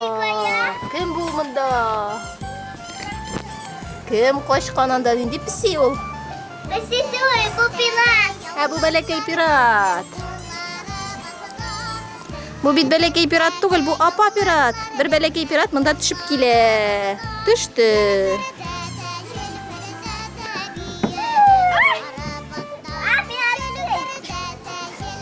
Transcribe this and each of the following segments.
Кем бу монда? Кем качкан анда? Нинди песи ул? Песи сой, бу пират. Ә бу бәләкәй пират. Бу бит бәләкәй пират түгел, бу апа пират. Бер бәләкәй пират монда төшеп килә. Төште.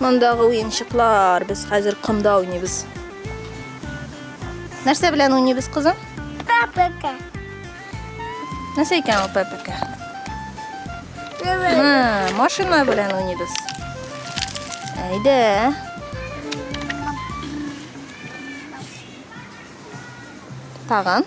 Мондагы уенчыклар, без хәзер комда уйныйбыз. Нәрсә белән уйныйбыз, кызым? Папака. Нәрсә икән ул папака? Ха, машина белән уйныйбыз. Әйдә. Тагын.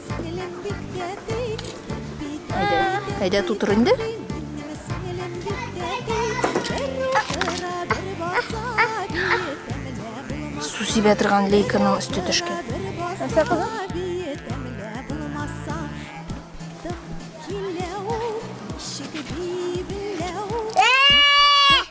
Әйдә, тутыр инде. Су сибә торган лейканың өсте төшкән. Нәрсә кызым?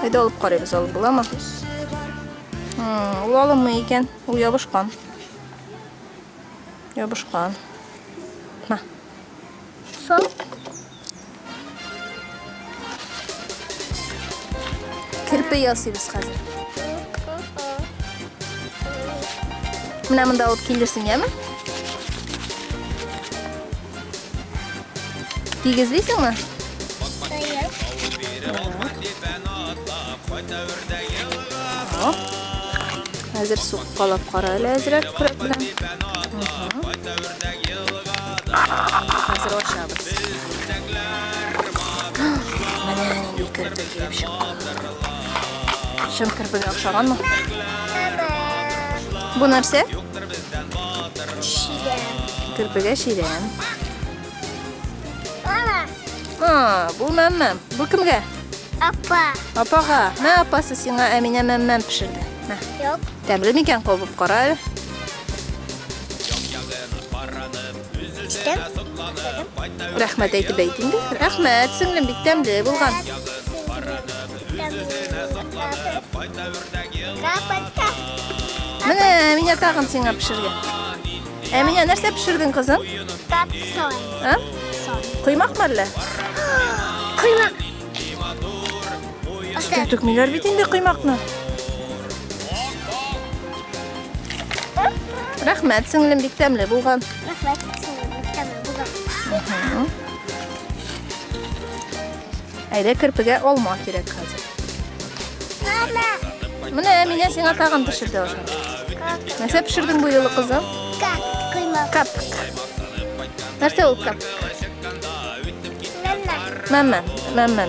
Әйдә алып карыйбыз, алып буламы? Ул алынмый икән, ул ябышкан. Ябышкан. Ма. Сон. Кирпе ясыйбыз хәзер. Менә монда алып килерсең, яме? Тигезлисеңме? Хәзер суқпалап кара әле әзрәк күрәк белән. Хәзер ашабыз. Менә инде керпе килеп чыкты. Чын керпегә охшаганмы? Бу нәрсә? Керпегә чирәм. Мама. А, бу мәммәм. Бу кемгә? Апа. Апага. Мә апасы сиңа Әминә мәммәм пешерде. Мә. Юк. Тәмле микән кабып кара әле. Рәхмәт әйтеп әйт инде. Рәхмәт, сеңлем, бик тәмле булган. Менә меня тагын сиңа пешергән. Ә меня нәрсә пешердең, кызым? Капсон. А? Коймак мәллә? Коймак. Өстә түкмиләр бит инде коймакны. Рәхмәт, сеңлем, бик тәмле булган. Рәхмәт, сеңлем, бик тәмле булган. Әйдә керпегә алма кирәк хәзер. Мама. Менә Әминә сиңа тагын пешерде аша. Нәрсә пешердең бу юлы кызым? Кап, коймак. Кап. Нәрсә ул кап? Мама. Мама, мама.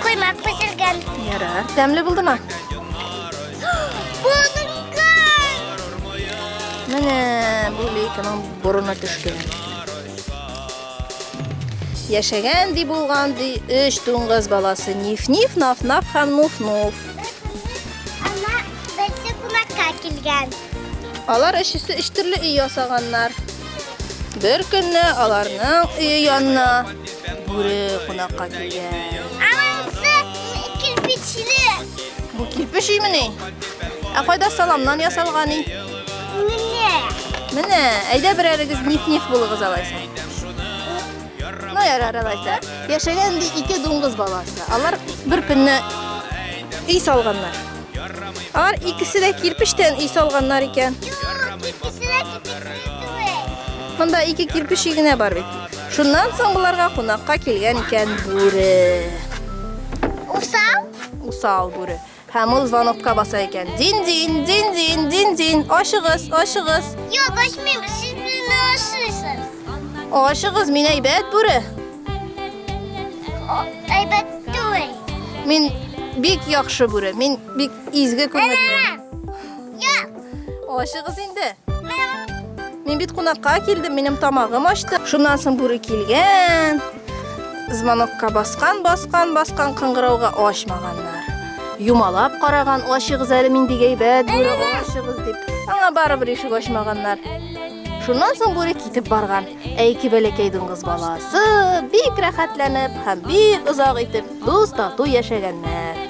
Коймак пешергән. Ярар. Тәмле булдымы? Булдынган. Менә бу лейканың борына төшкән. Яшәгән ди булган ди өч дуңгыз баласы Ниф-Ниф, Наф-Наф һәм Нуф-Нуф. Ана берсе кунакка килгән. Алар өчесе өч төрле өй ясаганнар. Бер көнне аларның өе янына бүре кунакка килгән. Анысы кирпечле. Бу кирпеч өймени? Ә кайда саламнан ясалган өй? Менә, әйдә берәрегез ниф-ниф булыгыз алайса. Ну, ярар алайса. Яшәгән ди ике дуңгыз баласы. Алар бер көнне өй салганнар. Алар икесе дә кирпичтән өй салганнар икән. Монда ике кирпич генә бар бит. Шуннан соң боларга кунакка килгән икән бүре. Усал? Усал бүре. Һәм ул звонокка баса икән. Дин-дин, дин-дин, дин-дин. Ачыгыз, ачыгыз. Юк, ачмыйм. Сез безне ашыйсыз. Ачыгыз, мин әйбәт бүре. Әйбәт түгел. Мин бик яхшы бүре. Мин бик изге күңелле. Ашыгыз инде. Мин бит кунакка килдем, минем тамагым ачты. Шуннан соң бүре килгән. Звонокка баскан, баскан, баскан кыңгырауга ачмаганнар. Юмалап караган, ачыгыз әле мин бик әйбәт бүре, ачыгыз дип. Аңа барыбер ишек ачмаганнар. Шуннан соң бүре китеп барган. Ә ике бәләкәй дуңгыз баласы бик рәхәтләнеп һәм бик озак итеп дус тату яшәгәннәр.